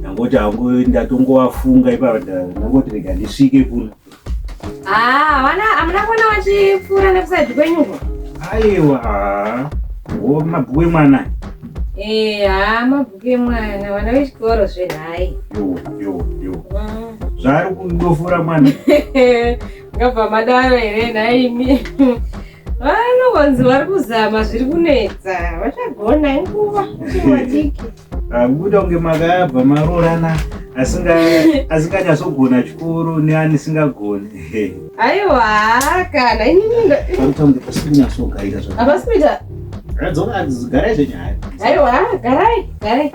ndangoti hangu ndatongowafunga ipapo ndangoti rega ndisvike kuno ah, vana hamuna kuona vachipfuura nekusaidhi kwenyuko aiwa wo mabhuku emwana eh, ha mabhuku emwana vana vechikoro zvenhai mm. zvaari kudofura mwana ngabva madaro here nhaimi Vanonzi vari kuzama zviri kunetsa vachagona inguva chiwadiki akubuda kunge makayabva maroorana asinganyatsogona chikoro neanisingagoni aiwa kana ininindoakunyatsogaira zvaakuita garai zvenyaya aiwa garai garai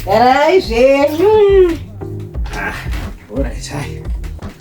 garai zvenyu ah, orit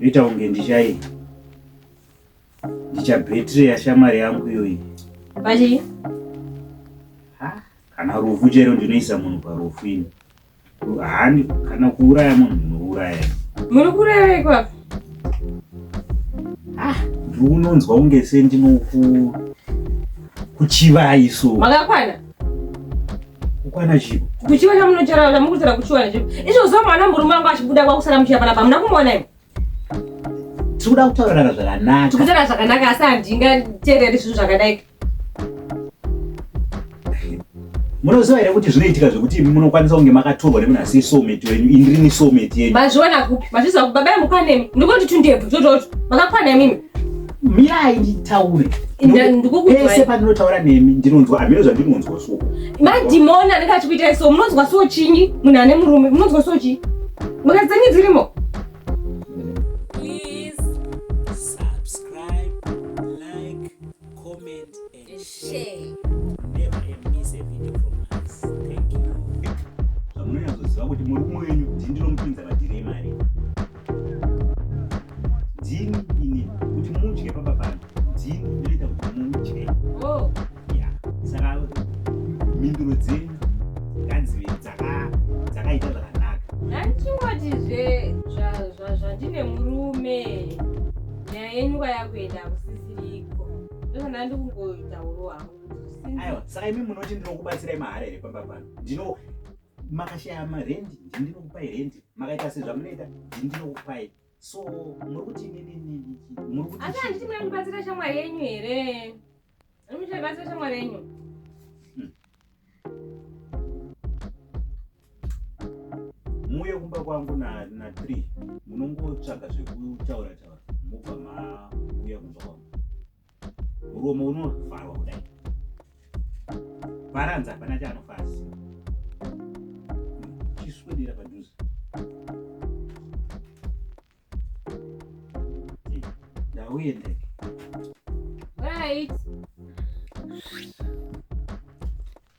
Ita unge ndichai ndichabhetiri yashamwari yangu iyoyi. Pachii? Kana rufu chero ndinoisa munhu parufu ini. Hani kana kuuraya munhu ndinouraya. Muri kurevei kwapi? Ndiri unonzwa unge sendinoku kuchivai so. Makakwana? kukwana chipo kuchiva chamunochara chamukudzira kuchiwana chipo izvo zuva mwana murume wangu achibuda kwakusara muchiya panapa hamuna kumuona imi tikuda kutaurana zvakanaka tikutaura zvakanaka asi handingateereri zvinhu zvakadai munoziva here kuti zvinoitika zvekuti imi munokwanisa kunge makatorwa nemunhu asi someti wenyu ini rini someti yenyu mazviona kupi mazviziva kuti baba yamukwanemi ndikoti tundebvu tototo makakwana imimi mirai nditaure pese pandinotaura nemi ndinonzwa hameno zvandinonzwa so madhimoni anenge achikuitai so munonzwa so chinyi munhu ane murume munonzwa so chii mukadzi dzenyu dzirimo zvamunonyatsoziva kuti murume wenyu ndini ndinomupinza madhiri emari ndini ini kuti mudye papa pano ndini ndinoita kuti mudye oh. saka mhinduro dzenyu ngadzive dzakaita zvakanaka handichingotizve zvandine murume nyaya yenyu kwayakuenda kusi aiwa saka imi munoti ndinokubatsirai mahara here pamba pano ndino makashaya marendi ndi ndinokupai rendi makaita sezvamunoita ndi ndinokupai so muri kuti nininininiasi handiti muri kubatsira shamwari yenyu here muri kubatsira shamwari yenyu muuye kumba kwangu na, na three munongotsvaga zvekutaura taura mobva mauya kumba kwangu muromo unovharwa kudai bharanza hapana chaanofasi chiswedera padhuze ndauende right